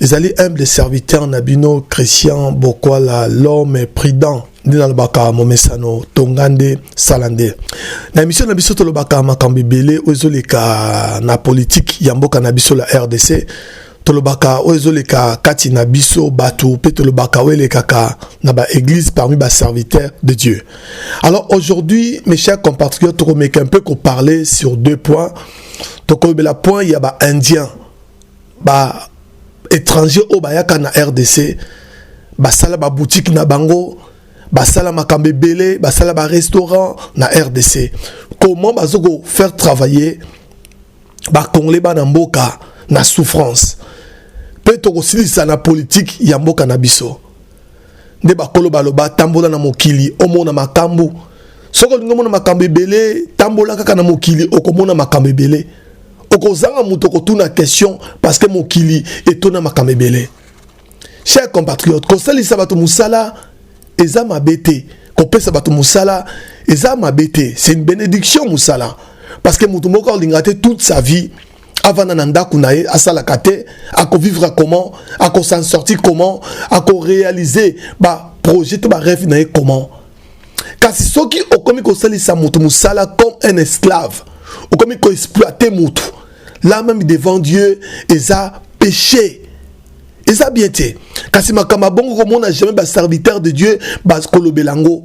ezali humble serviteur na bino christian bokwala l'homme prudent nde nalobaka momesano tonga nde sala nde na emission na biso tolobaka makambo ebele oyo ezoleka na politike ya mboka na biso la rdc tolobaka oyo ezoleka kati na biso bato mpe tolobaka oyo elekaka na baeglise parmi baserviteur de dieu alors aujourd'hui mes chers compatriotes tokomeka un peu koparler sur deux points tokolobela point ya baindien ba étrangers au bayaka na rdc basala ba boutique na bango basala makambo ebele basala ba restaurant na rdc comment bazoko faire travailler bakongole bana mboka na souffrance mpe tokosilisa na politike ya mboka na biso nde bakolo baloba tambola na mokili omona makambo soki olingi omona makambo ebele tambola kaka na mokili okomona makambo ebele okozanga moto okotuna question parce que mokili etona makambo ebele cher compatriote kosalisa bato mosala eza mabe te kopesa bato mosala eza mabe te c'est une bénédiction mosala parce que moto moko alinga te toute sa vie avanda na ndako na ye asalaka te akovivre comment akosan sortir comment akorealize baprojet to bareve na ye comment kasi soki okomi kosalisa moto mosala comme un esclave okomi koexploite moto la même devant dieu eza péché eza bien te kasi makambo abongo komona jamais baserviteur de dieu bakolobela yango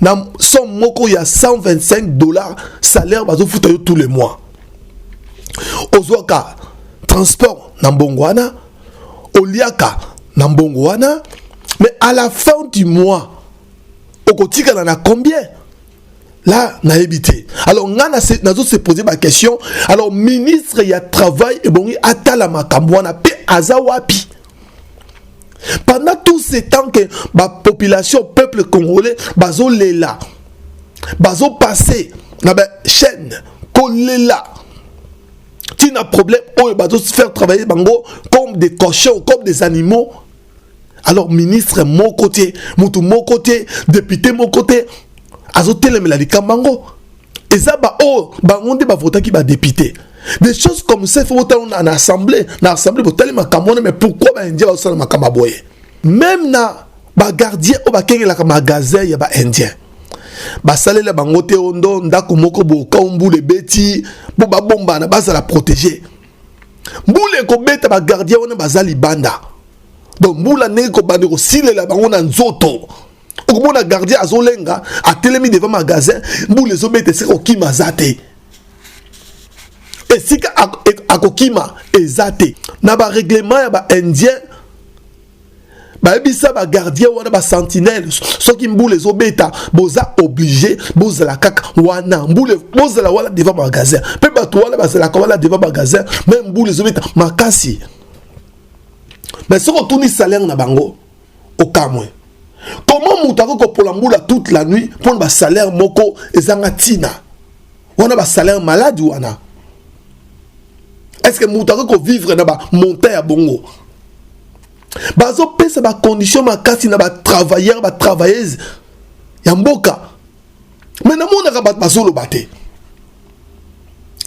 na somme moko ya 125 dollars salaire bazofuta yo tous les mois ozwaka transport na mbongo wana oliaka na mbongo wana mais à la fin du mois okotikala na combien là nayebi te alors ngai nazose pose baquestion alors ministre ya travail ebongi atala makambo wana mpe aza wapi pendant tout ce temps que bapopulation peuple congolais bazolela bazopasse na bachaîne kolela ntina problème oyo bazofaire travailler bango comme des cochons comme des animaux alors ministre moko te motu moko te député moko te azotelemela likambo yango eza ba oyo oh, bango nde bavotaki badepute des choses comme ça il faut botala na assemblée na assemblée botali makambo wana mais pourquoi baindien bazosala makambo ya boye même na bagardien oyo bakengelaka magasin ya baindien basalela bango te o ndo ndako moko bokau mbula ebeti mpo babombana bazala protege mbula ekobeta bagardien wana baza libanda donc mbula ndenge ekobanda ekosilela bango na nzoto okomona gardien azolenga atelemi devant magasin mbula ezobeta esika okima aza te esika akokima eza te na bareglement ya baindien bayebisa bagardien wana basentinele soki mbula ezobeta boza oblige bozala kaka wana mbula bozala wana devant magasin mpe bato wana bazalaka wana devant magasin me mbula ezobeta makasi me soki otuni salaire na bango okamwe comment moto akoki kopola mbula toute la nuit mpo na basalaire moko ezanga ntina wana basalaire maladi wana estce que moto akoki kovivre na bamonta ya bongo bazopesa bacondition makasi na batravailleur batravailleuse ya mboka mais namonaka bato bazoloba te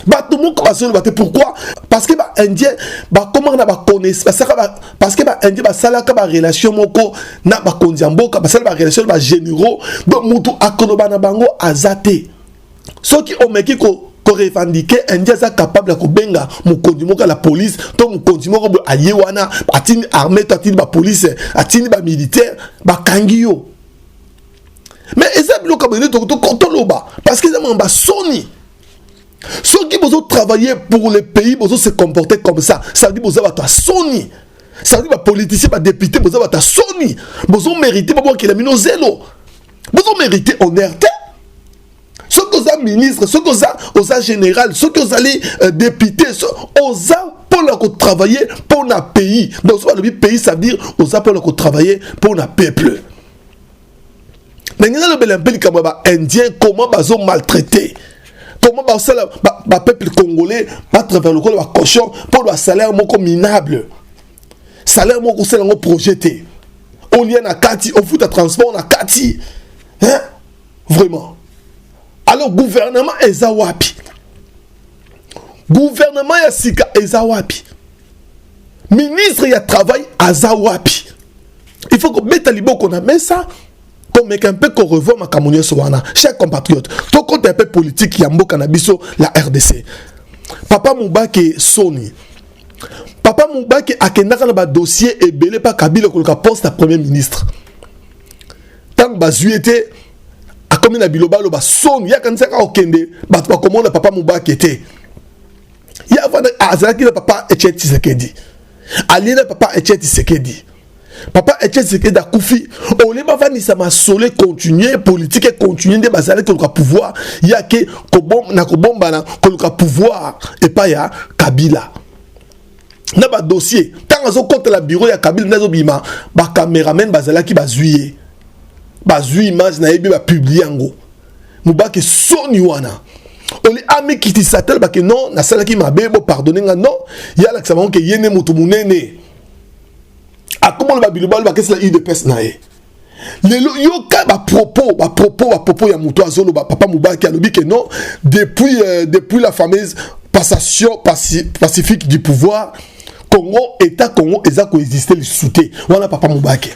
bato moko bazoloba te pourquoi parce que baindien bakomaka na baconnaissance basalaka parce que baindien basalaka barelation moko na bakonzi ya mboka basala barelation na bagénéraux donc motu akoloba na bango aza te soki omeki ko korevandike indien aza capable ya kobenga mokonzi moko ya la police to mokonzi moko boye aye wana atindi armée to atindi bapolice atindi bamilitaire bakangi yo mais eza biloko ya boye toloba parce que eza makambo ya soni soki bozo travailler pour le pays bozo se comporter comme ça ça veut dire boza bato ya soni ça veut dire bapoliticien badepute boza bato ya soni bozo mérite babwakela bino zelo bozo mérite honneur te soki oza ministre soki oza oza général soki ozali euh, député oza mpona kotravaille mpona pays donc soki balobi pays ça veut dire oza mpona kotravaille mpona peuple na ngai nalobela mpe likambo ya baindien comment bazo maltraite comment basala bapeuple congolais batravers lokola bacochon mpo na salaire moko minable salaire moko kosala yango projet te olia na kati ofuta transport na kati hein? vraiment alors gouvernement eza wapi gouvernement ya sika eza wapi ministre ya travail aza wapi il faut kobeta liboko na mesa komeka mpe korevoir makambo nyonso wana cher compatriote tokota mpe politike ya mboka na biso la rdc papa mubake soni papa mubake akendaka na badossier ebele mpa kabila koluka poste ya premier ministre ntango bazwi ye te akomi na bilobaloba soni ye akanisaki akokende bato bakomona papa mubake te ye avanda azalaki na papa etienne tshisekedi alie na papa etienne tshisekedi papa etienne tshisekedi akufi olie bafandisa masolo econtinue politike econtinue nde bazali koluka pouvoir yake na kobombana koluka pouvoir epai ya kabila na badossier ntango azokotela biro ya kabila nde azobima bacameraman bazalaki bazwi ye bazwi image na ye mpe bapublie yango mubake soni wana oli amikitisa talba ke non nasalaki mabe bo pardonne nga non ye alakisa bango ke ye nde moto monene akomoloba bilobalo bakesi na udps na ye lelo yoka bapropos bapropos bapropos ya moto azoloba papa mobaki alobi ke non depuis, euh, depuis la fameuse passation paci, pacifique du pouvoir congo état congo eza koexiste lisusu te wana papa mobake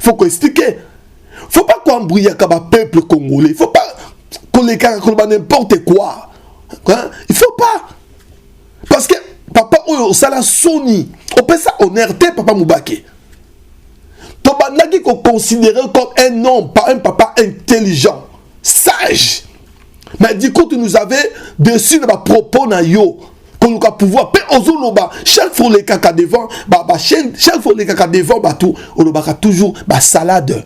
faut ko expliquer faut pas koambruyaka bapeuple congolais faut pas kolekaka koloba n'importe quoi hein? il faut pas parce que papa oyo osala soni opesa honneur te papa mobake tobandaki koconsidere comme un homme par un papa intelligent sage mais du coup tu nous avais dessus na bapropos na yo koluka pouvoir mpe ozoloba chaque fois olekaka devant bachaine ba chaque fois olekaka devant bato olobaka toujours basalade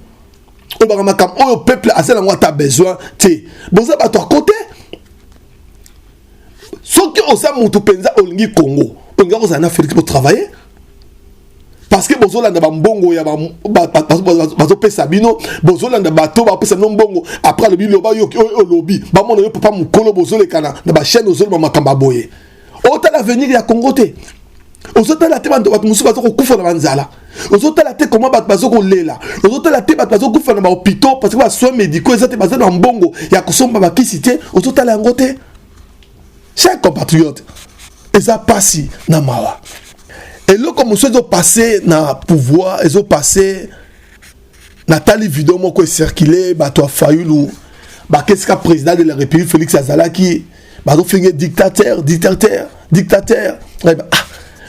olobaka makambo oyo peuple aza nango ata besoin te boza bato ya kote soki oza motu mpenza olingi congo olingi kozala na felix botravaille parce que bozolanda bambongo ya bazopesa bino bozolanda bato bapesa bino mbongo après alobi loba yo oyo olobi bamona yo papa mokolo bozolekana na bachaine ozoloba makambo ya boye otala avenir ya congo te ozotala te bato mosusu baza kokufa na banzala ozotala te koma bato baza kolela ozotala te bato baza kokufa na bahopitau parce que basoin médicaux eza te baza na mbongo ya kosomba bakisi te ozotala yango te chers compatriotes eza pasi na mawa eloko mosusu ezopase na pouvoir ezopase natali video moko ecircule bato ya fayulu bakesika président de la république félix azalaki bazofinge dictateur dictateur dictateur ah,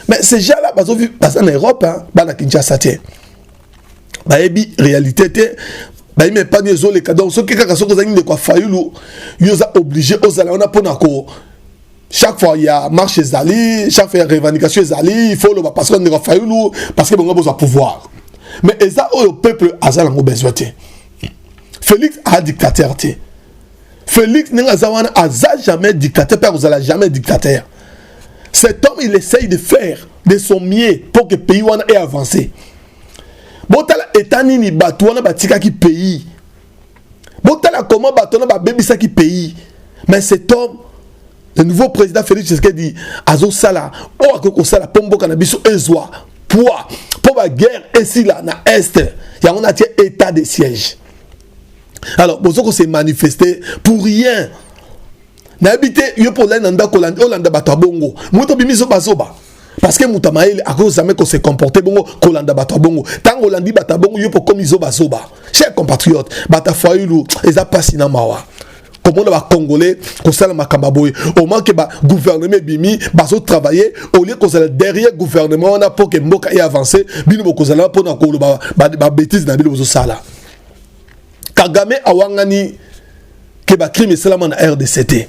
mais ces gens là baza na europe bana kinshasa te bayebi réalité te bayima epangi ezoleka donc soki kaka soki ozangi ndeko ya fayulu yo oza oblige ozala wana mpona ko chaque fois ya marche ezali chaque fois ya revendication ezali il faut oloba parce que ndeko ya fayulu parce que bango bozwa pouvoir mais eza oyo peuple aza nango besoin te félix aa dictateur te Felix ndenge aza wana aza jamais dictateur mpe akozala jamais dictateur cet homme il essaye de faire de son mieux pour que pays wana e avance botala eta nini bato wana batikaki pays botala comment bato wana babebisaki pays mais cet homme le nouveau président félix tshisekedi azosala oyo akoki kosala mpo mboka na biso ezwa poids mpo baguerre esila na est yango natie état de siège alors bozo ko se manifester pour rien nayebi te yo mpo olai na ndako olanda bato ya bongo moto obimi zobazoba parce que moto ya mayele akoki jamais ko se comporter bongo kolanda bato ya bongo ntango olandi bato ya bongo yo mpo okomi zobazoba cher compatriote bato ya fayulu eza mpasi na mawa komona bacongolais kosala makambo ya boye omanke bagouvernement ebimi bazotravaille olie kozala derrière gouvernement wana mpo ke mboka e avance bino bokozala mpona koloba babetise na bino bozosala kagame awangani ke bacrime esalama na rdc te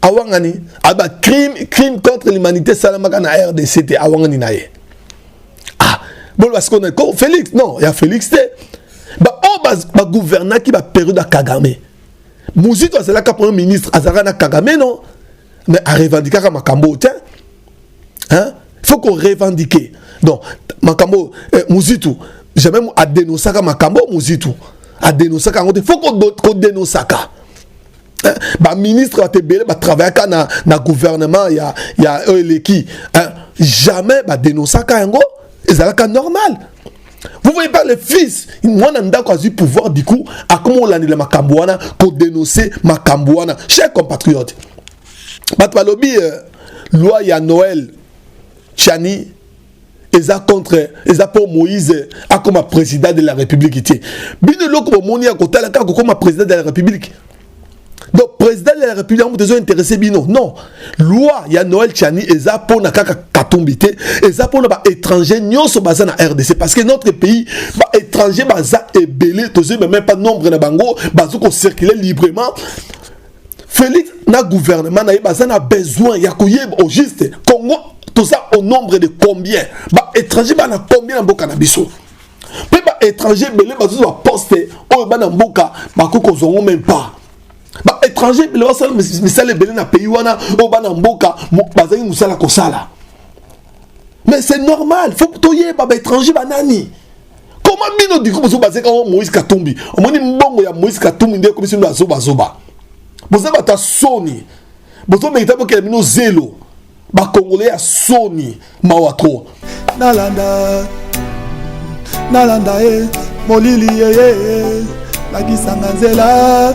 awangani aba crime crime contre l'humanité esalamaka na rdc te awangani na ye ah boloba sikoyo na ko félix non ya félix te baoyo oh, baguvernaki baperiode ya kagame muzito azalaka premier ministre azalaka na kagame non mais arevandikaka makambo te hein faut qu'on revendique donc makambo eh, muzitu jamais adenosaka makambo muzitu adenosaka yango te faut kodenosaka hein? baministre bato ebele batravaillaka na, na gouvernement ya, ya oyo eleki hein? jamais badenosaka yango ezalaka normal vous voyez pas le fils mwana ndako azwi pouvoir du coup akoma olandela makambo wana kodenonse makambo wana cher compatriote bato balobi euh, loi ya noel chani eza contre eza mpo moïse akoma président de la république te bino eloko bomoni ya kotala kaka kokoma président de la république donc président de la république yango moto ezointeresse bino non loi ya noel chani eza mpo na kaka katumbi te eza mpo na baétranger nyonso baza na rdc parce que notre pays baétranger baza ebele tozoyeba même pas nombre na bango bazo kocircule librement Felix na gouvernement na ye baza na besoin ya koyeba au juste Congo toza au nombre de combien ba étranger bana combien na mboka na biso mpe ba étranger ebele bazozwa poste oyo bana mboka bakoki kozwa ngo meme pas ba étranger ebele basala misala ebele na pays wana oyo bana mboka bazali mosala kosala mais c'est normal faut toyeba ba étranger banani koma bino diko bozo bazeka o moïse katumbi omoni mbongo ya moïse katumbi nde ekomisi bino azobazoba boza bato ya soni bozo merita bokela bino zelo bakongole ya soni mawa tro nalanda nalanda ye molili yeye lakisanga nzela